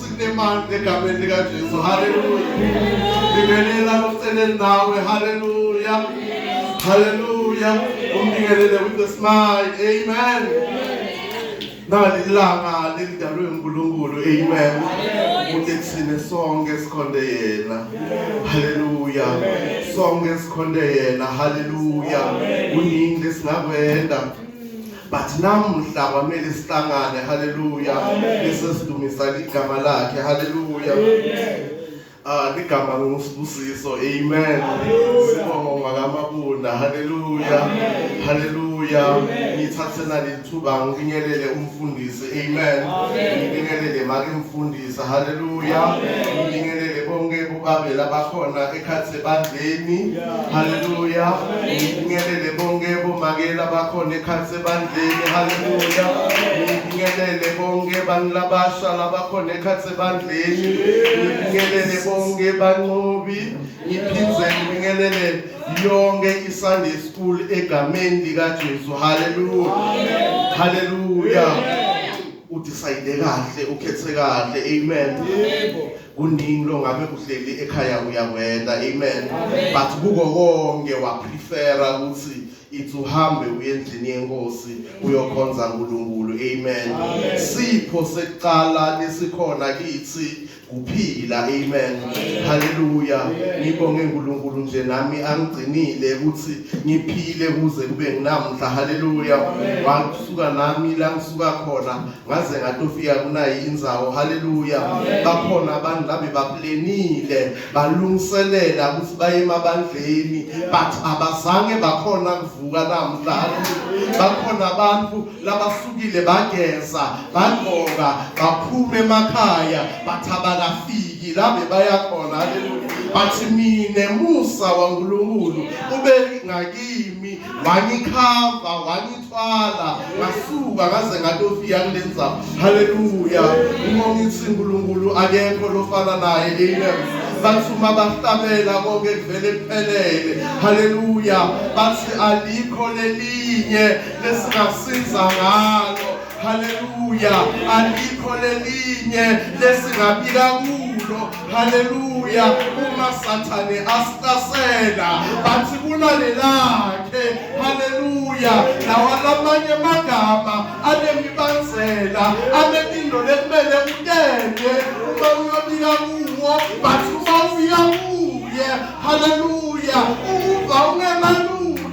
sinemandla egameni likaJesu haleluya ngibingelela lokuceleni nawe haleluya haleluya umnikelele with a smile amen nali ilanga lelidalwe uNkulunkulu amen ukuthi thina sonke sikhonde yena haleluya sonke sikhonde yena haleluya kuningi lesingakwenza but namuhla kwamele sihlangane haleluya bese sidumisa igama lakhe haleluya Ah ligama ngosibusiso amen sibonga makamabunda haleluya haleluya ngithathe nalithuba ngifinyelele umfundisi Amen. Ngibingelele make mfundisa. Hallelujah. Ngibingelele bonke bobabe labakhona ekhathi sebandleni. Hallelujah. Ngibingelele bonke bomake labakhona ekhathi sebandleni. Hallelujah. Ngibingelele bonke banilabasha labakhona ekhathi sebandleni. Ngibingelele bonke banqobi. Ngiphindze ngibingelele yonke iSunday school egameni likaJesu haleluya haleluya udecide kahle ukhethe kahle amen yebo kuningi longabe kuhleli ekhaya uyakwenda amen but kuko konke waprefera ukuthi ithi uhambe uye endlini yenkosi uyokhonza uNkulunkulu amen sipho sekuqala lesikhona kithi kuphila amen haleluya ngibonge uNkulunkulu nje nami angigcinile ukuthi ngiphile kuze kube nginamhla haleluya wasuka nami la ngisuka khona ngaze ngatofika kunayi inzawo haleluya bakhona abantu labe baplenile balungiselela ukuthi baye emabandleni but abazange bakhona kuvuka namhla haleluya bakhona abantu labasukile bageza bagqoka baphuma emakhaya bathabakafiki la bebaya khona haleluya bathi mina musa waNkulunkulu ube ngakimi wangikhava wangithwala ngasuka ngaze ngatofika kulenza haleluya uma ngithi uNkulunkulu akekho lofana naye amen bathi uma bahlabela konke kuvele kuphelele haleluya bathi alikho lelinye lesingasiza ngalo haleluya alikho lelinye lesingabika kulo haleluya uma sathane asihlasela bathi kunalelakhe haleluya nawalamanye amagama anemibanzela anemindo lekumele utende uma uyobika kuwo bathi uma uya kuye haleluya uva ungemalula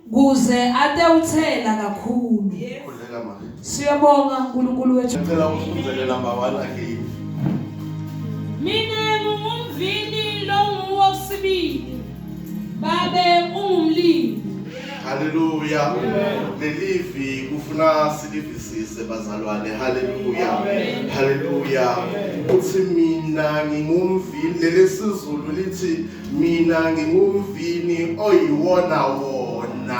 kuze atewuthela kakhulu Khuleka manje. siyabonga unkulunkulu wethu Ngicela usize number 1 again. Mina ngingumvini longuwo sibili. Babe ungumlimi. Hallelujah. Lelivi kufuna silivisise bazalwane. Hallelujah. Hallelujah. Uthi mina ngingumvini lelesizulu lithi mina ngingumvini oyiwona wona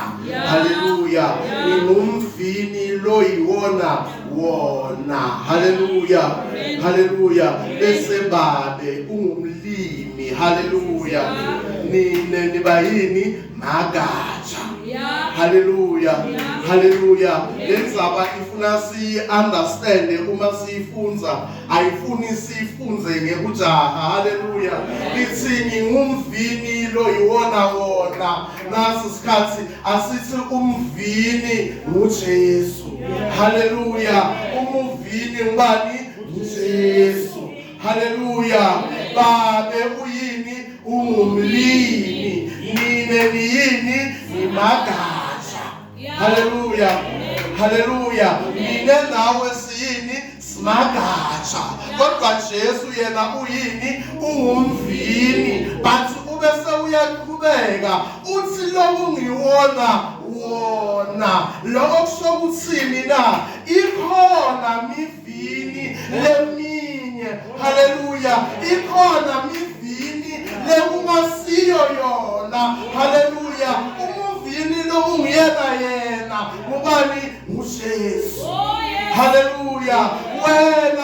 haleluya ngingumvini loyiwona wona haleluya haleluya bese babe ungumlimi haleluya nine niba yini magatsha haleluya haleluya lenzaba ifuna si understand uma siyifunza ayifuni sifunze ngekujaha haleluya ithi ngingumvini lo yiwona wona nasi isikhathi asithi umvini nguJesu haleluya umuvini ngubani nguJesu haleluya babe uyini ungumlimi nine niyini ngimagama haleluya haleluya mina nawe siyini simagatsha kodwa jesu yena uyini ungumvini but ube sewuyaqhubeka uthi loku ngiwona wona lokho kusho ukuthini na ikhona miv mivini leminye haleluya ikhona mivini lekungasiyo yona haleluya umuvini lo unguyena yena ubani ngujesu oh, haleluya wena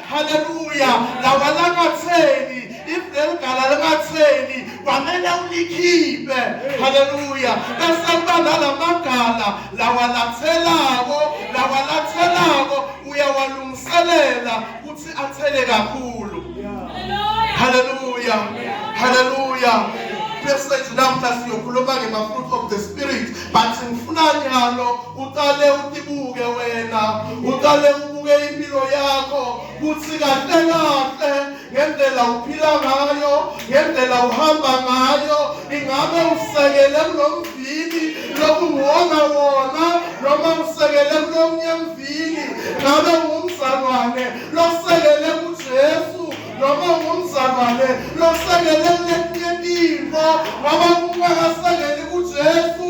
haleluya lawalangatheni iveligala likatheni kwamele ulikhiphe haleluya bese kuba nalamagala lawalathelako lawalathelako uyawalungiselela ukuthi athele kakhulu haleluya haleluya message namhla siyokhuluma nge-fruit of the spirit but ngifuna nyalo uqale utibuke wena uqale ubuke impilo yakho kuthi kahle kahle ngendlela uphila ngayo ngendlela uhamba ngayo ingabe usekele kulomvili lokuwona wona noma usekele kulomnye mvili ngabe ungumzalwane losekele kujesu noma ungumzalwane losekele kuletinye tintfo ngoba kungakasekeli kujesu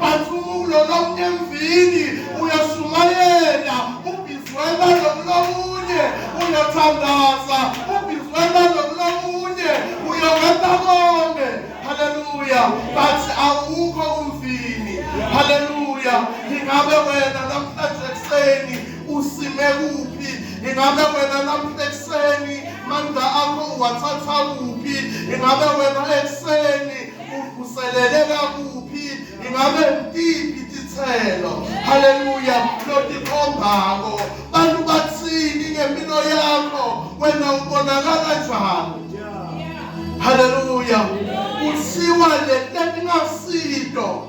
Bathulo lonke emvini uyashumayela ubizwela lokulomunye uyathandaza ubizwela lokulomunye uyokwenza konke haleluya bathi awukho umvini haleluya ingabe wena namhlanje ekuseni usime kuphi ingabe wena namhlanje ekuseni mandla akho uwathatha kuphi ingabe wena ekuseni uvuseleleka kuphi ingabe ngiphi isithelo haleluya lotikhombako bantu bathini ngempilo yakho wena ubonakala njani haleluya kuthiwa le nto ingasito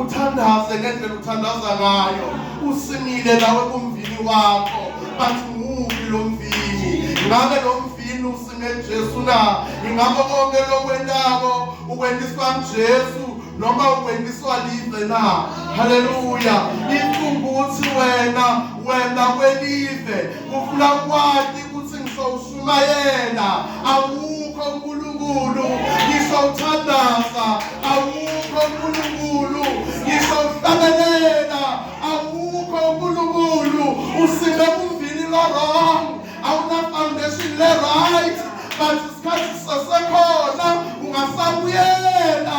uthandaze ngendlela uthandaza ngayo usimile nawe kumvini wakho bathi mubi lo mvini ngabe lo mvini usime Jesu na ingakho konke lokwentako ukwendiswa Jesu noma ukwendiswa live na haleluya ifunguthi wena wena kwelive ufuna kwati ukuthi ngisho Shumayela, awukho uNkulunkulu, ngisho uthandaza, awukho uNkulunkulu, ngisho uhlabelela, awukho uNkulunkulu, usime kuvili lo-wrong, awuna-foundation le-right, but isikhathi sisesekhona ungasabuyela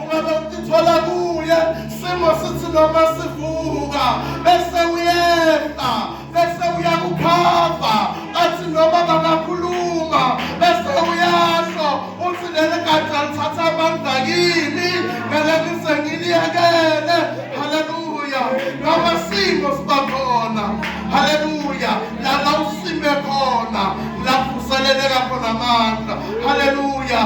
Ungabe utithola kuye simo sithi noma sivuka bese uyehla bese uyakukhava athi noma bangakhuluma bese uyasho uthi leli gada lithatha amandla kimi ngale ngize ngiliyekele haleluya noma simo siba khona haleluya lala usime khona lavuseleleka khona amandla haleluya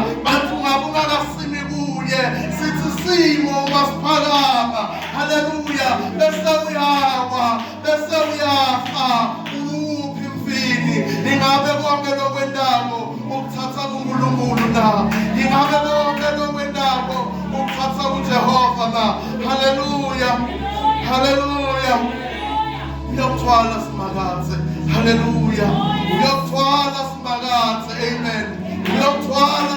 kunye sithi simo masiphakama haleluya bese uyawa bese uyafa uphi mfini ingabe konke lokwendako ukuthatha kuNkulunkulu na ingabe konke lokwendako ukuthatha kuJehova na haleluya haleluya uyokuthwala simakathe haleluya uyokuthwala simakathe amen uyokuthwala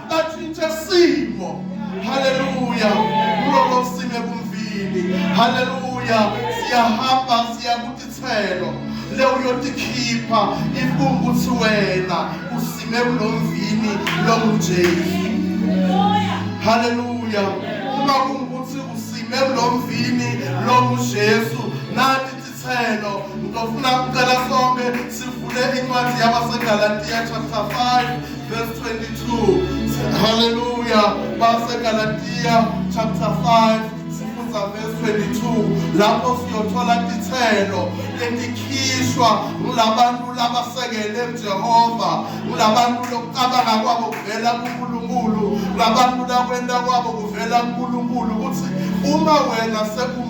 atshintshe simo haleluya kuloko sime kumvili haleluya siyahamba siya kutithelo le uyotikhipha ifunga ukuthi wena usime kulo mvini longujesu haleluya uma kungukuthi usime kulo mvini longujesu nathi Selo, ngizofuna ukucela sonke sivule incwadi yabaseGalatiya chapter 5 verse 22. Haleluya, baseGalatiya chapter 5 sifunda verse 22 lapho siyothola ithelo letikhishwa ngulabantu labasekele uJehova, ngulabantu lokucabanga kwabo kuvela kuNkulunkulu, ngulabantu lakwenta kwabo kuvela kuNkulunkulu ukuthi uma wena seku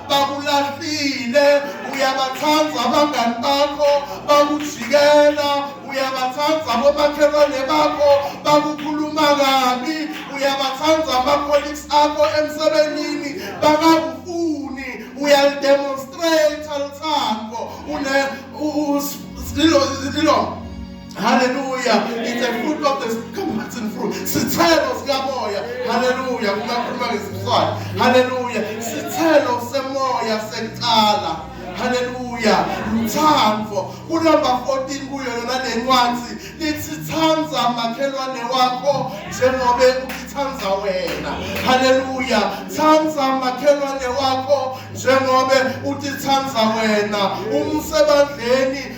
bakulahlile uyabathanda abangani bakho bakujikela uyabathanda abomakhelwane bakho bakukhuluma kabi uyabathanda ama-colleagues akho emsebenzini bakakufuni uyalidemonstrate lithando une lilo Hallelujah. It's a fruit of the comparison fruit. Sithelo sikamoya. Hallelujah. Kungakhuluma ngesizwana. Hallelujah. Sithelo semoya sekuqala. Hallelujah. Luthando. Kunumber 14 kuyo yona le ncwadi lithi thanda makhelwane wakho njengoba ukithanda wena. Hallelujah. Thanda makhelwane wakho njengoba utithanda wena. Umsebandleni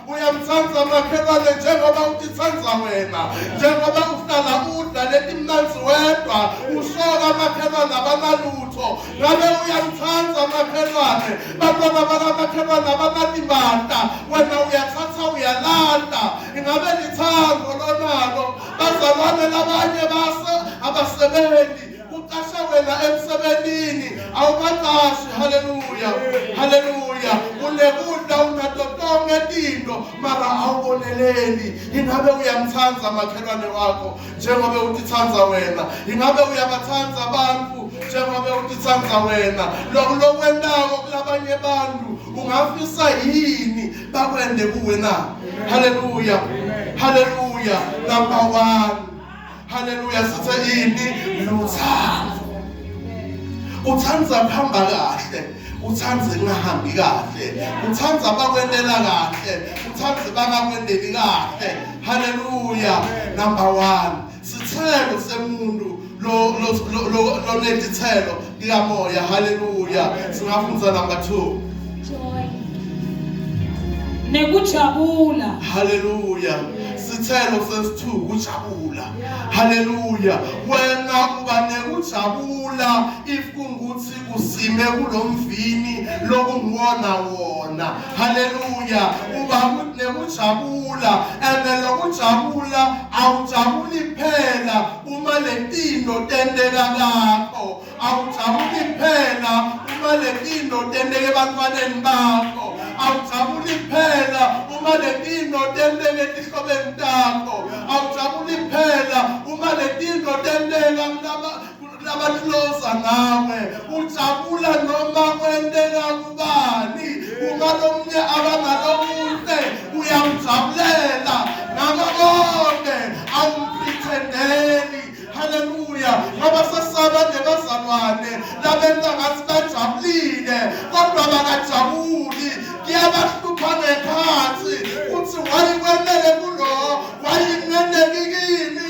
uyamthanda makhelwane njengoba utithanda wena njengoba uhlala udla letimnanzi wedwa usoka makhelwane abanalutho ngabe uyamthanda makhelwane bantwana bakamakhelwane abanalibanda wena uyathatha uyalanda ingabe lithando lonalo bazalwane labanye base abasebenzi kuqasha wena emsebenzini awubaqashi haleluya haleluya unekudla unato tonke tinto mara awuboneleli ingabe uyamthanda makhelwane wakho njengobe utithanda wena ingabe uyabathanda abantu njengobe utithanda wena lokhu lokwentako kulabanye abantu ungafisa yini bakwende kuwe na haleluya haleluya number 1 Haleluya sithe yini luthando. Uthanda kuhamba kahle. uthanda kungahambi kahle uthanda bakwendela kahle uthanda bangakwendeli kahle haleluya number 1 sithelo semuntu lo lo lo lo lo likamoya haleluya singafundza number 2 joy nekujabula haleluya sithelo sesithu kujabula haleluya wena uba nekujabula if kungukuthi usime kulomvini lokungiwona wona haleluya uba nekujabula and lokujabula awujabuli phela uma lempilo tenteka kakho awujabuli phela uma lempilo tenteka ebantwaneni bakho awujabuli phela uma lempilo tenteka etihlobeni takho awujabuli phela uma lempilo tenteka kulaba kulabatiloza ngawe ujabula noma kwenteka kubani uma lomunye abangalomuhle uyamjabulela ngakho konke awumprethendeli haleluya ngoba sesaba nebazalwane labenza ngathi bajabulile kodwa bakajabuli kuyabahlupha ngekhathi kuthi wayikwenele kulo wayinenekikile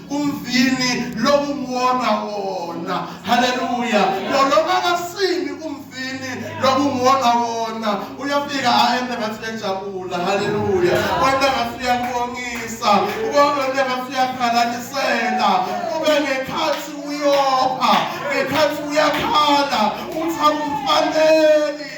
umvini lokunguwona wona haleluya lolona kasini umvini lokunguwona wona uyafika aende ngathi uyajabula haleluya wena ngathi uyakubongisa ubona wena ngathi uyakhalalisela ube ngekhathi uyopha ngekhathi uyakhala uthi akumfaneli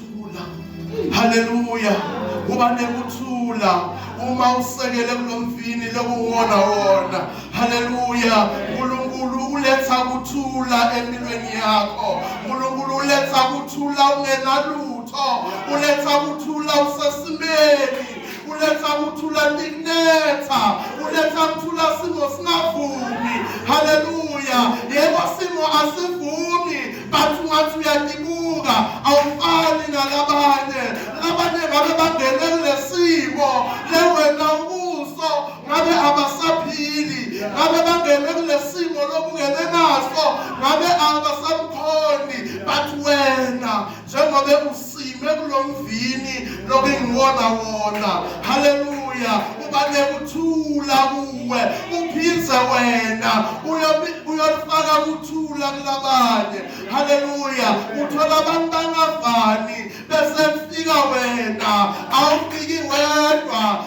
ukuthula haleluya kuba nekuthula uma usekele kulomfini lokuwona wona haleluya uNkulunkulu uletha ukuthula empilweni yakho uNkulunkulu uletha ukuthula ungenalutho uletha ukuthula usesimeni uletha ukuthula likunetha uletha ukuthula simo singavumi haleluya yebo simo asivumi bathi ungathi uyatibuka awufani nalabanye labanye ngabe bangene kulesimo lewena ubuso ngabe abasaphili ngabe bangene kulesimo lokungene naso ngabe abasamkhoni but wena njengobe sime kulo mvini lobengiwona wona haleluya uba nekuthula kuwe uphize wena uyolifaka kuthula kulabanye haleluya uthola abantu bangavani bese kufika wena awufiki wedwa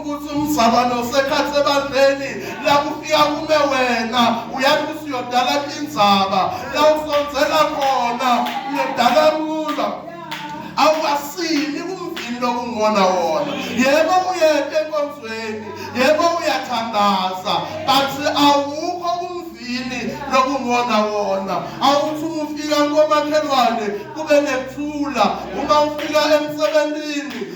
ukuthi umzalwane usekhathi ebandleni la kufika kume wena uyathi ukuthi uyodala indzaba la usonzela khona uyodala kuza awukasini kumvini lokungona wona yebo uyete enkonzweni yebo uyathandaza but awukho kumvini lokungona wona awuthi ufika komakhelwane kube nethula uma ufika emsebenzini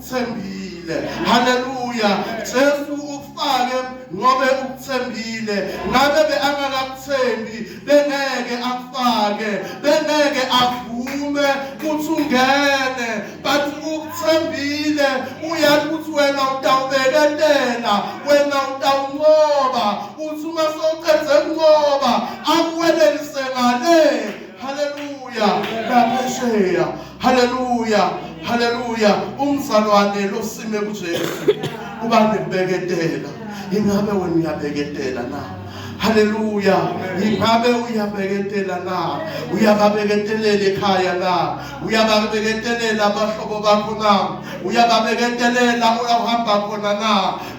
ukuthembile haleluya Jesu ukufake ngobe ukuthembile ngabe beangakakuthembi bengeke akufake bengeke avume ukuthi ungene but ukuthembile uyazi ukuthi wena utawubeketela wena utawunqoba uthi uma sowuqedze kunqoba akuwelelise ngale haleluya ngaphesheya haleluya haleluya umzalwane losime kujesu uba nebheketela ingabe wena uyabheketela na haleluya ingabe uyabheketelela na uyababeketelela ekhaya na uyababeketelela abahlobo bakho na uyababeketelela uhamba khona na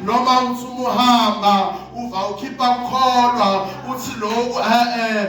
noma uthi umuhamba uva ukhipha ukholwa uthi loku e-e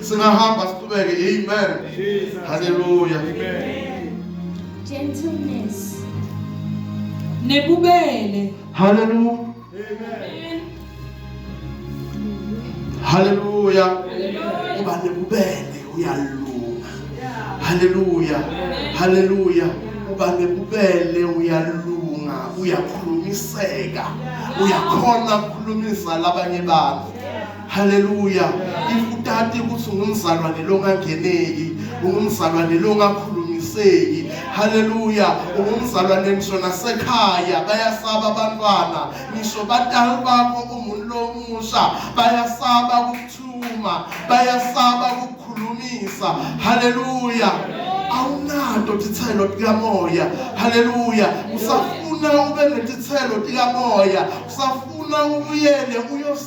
Singahamba siqhubeke. Amen. Hallelujah. Amen. Gentleness. Nebubele. Hallelujah. Amen. Hallelujah. Uba nebubele uyalunga. Hallelujah. Hallelujah. Uba nebubele uyalunga, uyakhulumiseka. Uyakhona ukukhulumisa labanye bantu. haleluya if utati ukuthi ungumzalwane longangeneki ungumzalwane longakhulumiseki haleluya ungumzalwane ngisho nasekhaya bayasaba abantwana ngisho batali bakho umuntu lomusha bayasaba ukuthuma bayasaba ukukhulumisa haleluya awunanto tithelo likamoya haleluya usafuna ube netithelo likamoya usafuna ubuyele uyos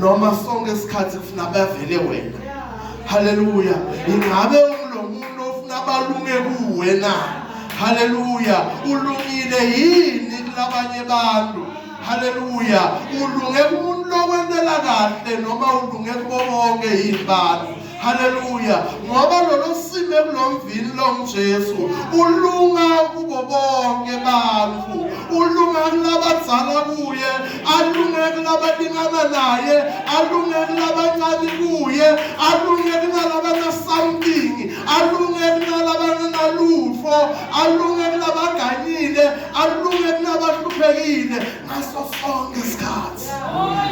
noma sonke isikhathi kufuna bavele wena haleluya ingabe umlomuntu ofuna balunge kuwe na haleluya ulungile yini kulabanye abantu haleluya ulunge kumuntu lokwentela kahle noma ulunge kubo bonke yini bantu haleluya ngoba lolo sime kulomvini lomjesu ulunga kubo bonke bantu ulunga kulabadzala kuye alunge kulabalingana naye alunge kulabancane kuye alunge kunalabanasomething alunge kunalabananalutho alunge kunabaganyile alunge kunabahluphekile ngaso sonke isikhathi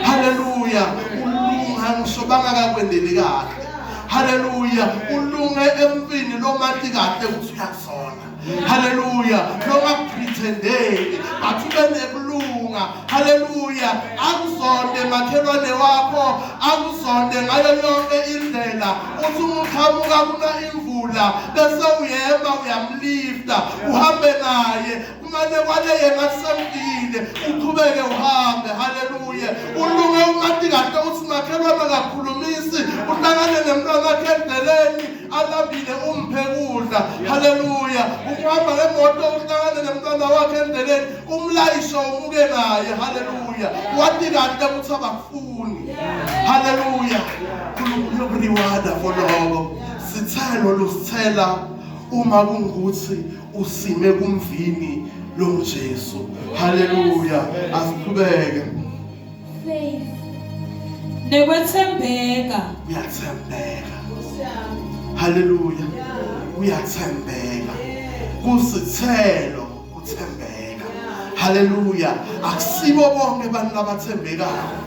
haleluya ulunga ngisobanga kakwendeli kahle haleluya ulunge empini lomati kahle ukuthi uyasona haleluya noma kupretendeli but ube nekulunga haleluya akuzonde makhelwane wakho akuzonde ngayo yonke indlela uthi umuqhamuka kuna imvula bese uyema uyamlifta uhambe naye kumane kwaleye ngasemdile uqhubeke uhambe haleluya ulume umathi kahle uthi makhelwana kakhulumisi uhlangane nemntwana wakhe endleleni alambile umphe kudla haleluya ukuhamba ngemoto uhlangane nemntwana wakhe endleleni umlayisho umuke naye haleluya wathi kahle ukuthi abakufuni haleluya unkulunkulu yokuriwada for lokho sithelo lusithela uma kungukuthi usime kumvini longuJesu haleluya asiqhubeke faith nekwethembeka uyathembeka haleluya uyathembeka kusithelo uthembeka haleluya akusibo bonke abantu abathembekayo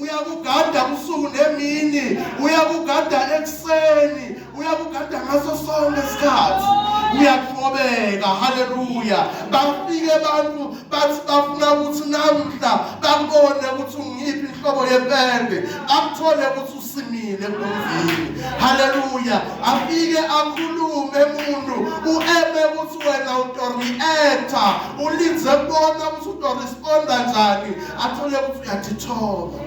uyakugada usuku nemini uyakugada ekuseni uyakugada ngaso sonke isikhathi uyathobeka haleluya bafike abantu bathi bafuna ukuthi namhla bakubone ukuthi ungiphi inhlobo yepende akuthole ukuthi usimile kumvini haleluya afike akhulume umuntu ueme ukuthi wena utorieta ulinze kubona ukuthi utoresponda njani athole ukuthi uyatithoba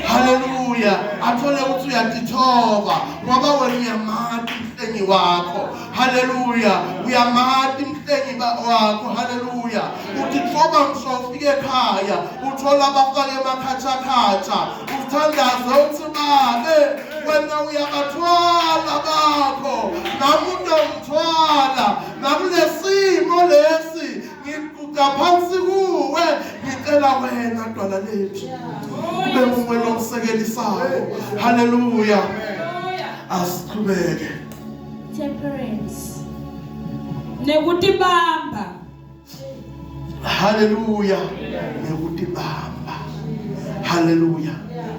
haleluya athole ukuthi uyatithoba ngoba wena uyamati mhlengi wakho haleluya uyamati mhlengi wakho haleluya utithoba msofike ekhaya uthola abafake emakhathakhatha uthandaze uthi babe wena uyabathwala bakho nami unomthwala nakulesimo lesi ngiguqa phansi kuwe ngicela wena dwala lethu ube muwe lomsekelisayo haleluya asiqhubeke temperance nekutibamba haleluya nekutibamba haleluya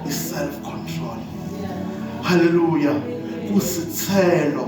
i self control haleluya kusithelo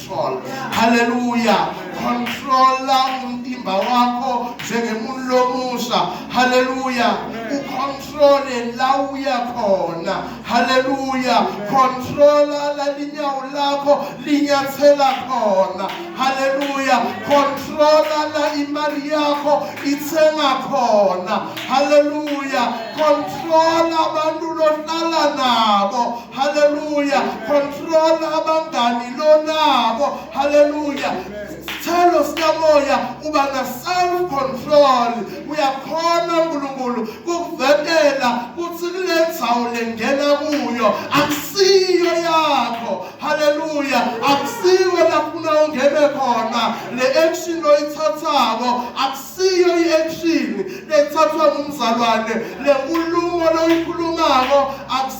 control haleluya controla umtimba wakho njengemuntu lomusa haleluya ucontrole la uya khona haleluya controla lalinyawo lakho linyathela khona haleluya controla la imali yakho ithenga khona haleluya controla abantu lohlala nabo Hallelujah. Control abangani lonabo. Hallelujah. Sithelo sikamoya uba na self control. Uyakhona uNkulunkulu kukuvetela kuthi kule ndzawo lengena kuyo akusiyo yakho. Hallelujah. Akusiyo lafuna ungene khona. Le action oyithathako akusiyo i-action lethathwa ngumzalwane. Le nkulumo loyikhulumako akusiyo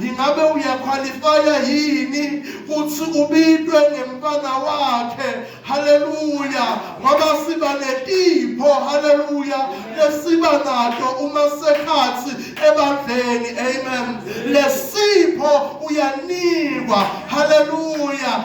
ingabe uyakhwalifaya yini kuthi ubitwe ngemfana wakhe haleluya ngoba siba netipho haleluya lesiba nato uma sekhathi ebandleni amen lesipho uyanikwa haleluya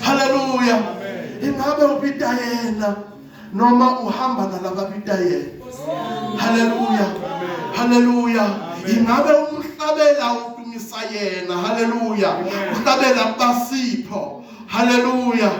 haleluya ingabe ubita yena noma uhamba nalababita yena haleluya haleluya ingabe umhlabela udumisa yena haleluya uhlabela basipho haleluya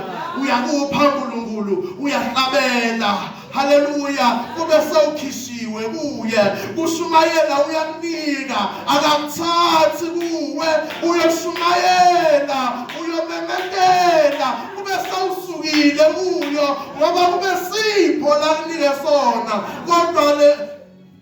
uyakupha uNkulunkulu uyahlabela haleluya kube sewukhishiwe kuye kushumayela uyakunika akamthathi kuwe uyoshumayela uyomemetela kube sewusukile kuyo ngoba kube sipho lakunike sona kodwa le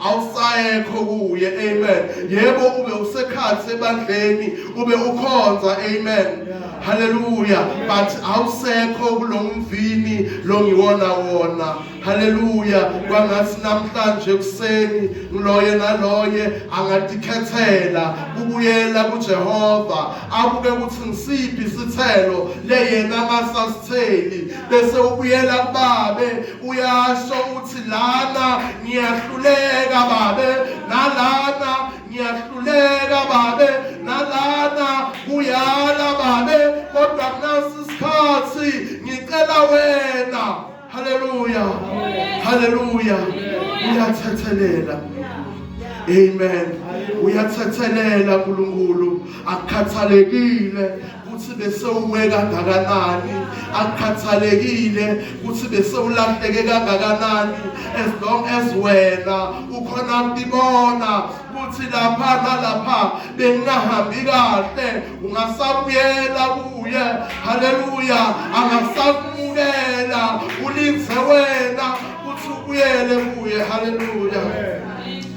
awusayekho kuye amen yebo ube usekhathi ebandleni ube ukhonza amen haleluya but awusekho kulomvini longiwona wona haleluya kwangathi namhlanje kuseni ngiloye naloye angadikhethela kubuyela kuJehova abuke ukuthi ngisiphi isithelo leyena ngasasitheli bese ubuyela kubabe uyasho uthi lana ngiyahluleka babe nalana ngiyahluleka babe nalana kuyala babe kodwa kunasi isikhathi ngicela wena haleluya haleluya uyathethelela amen uyathethelela nkulunkulu akukhathalekile kuthi besewuwe kangakanani akukhathalekile kuthi besewulahleke kangakanani as long as wena ukhona kubibona ukuthi lapha nalapha bengingahambi kahle ungasabuyela kuye haleluya angasakumukela ulinze wena ukuthi ubuyele kuye haleluya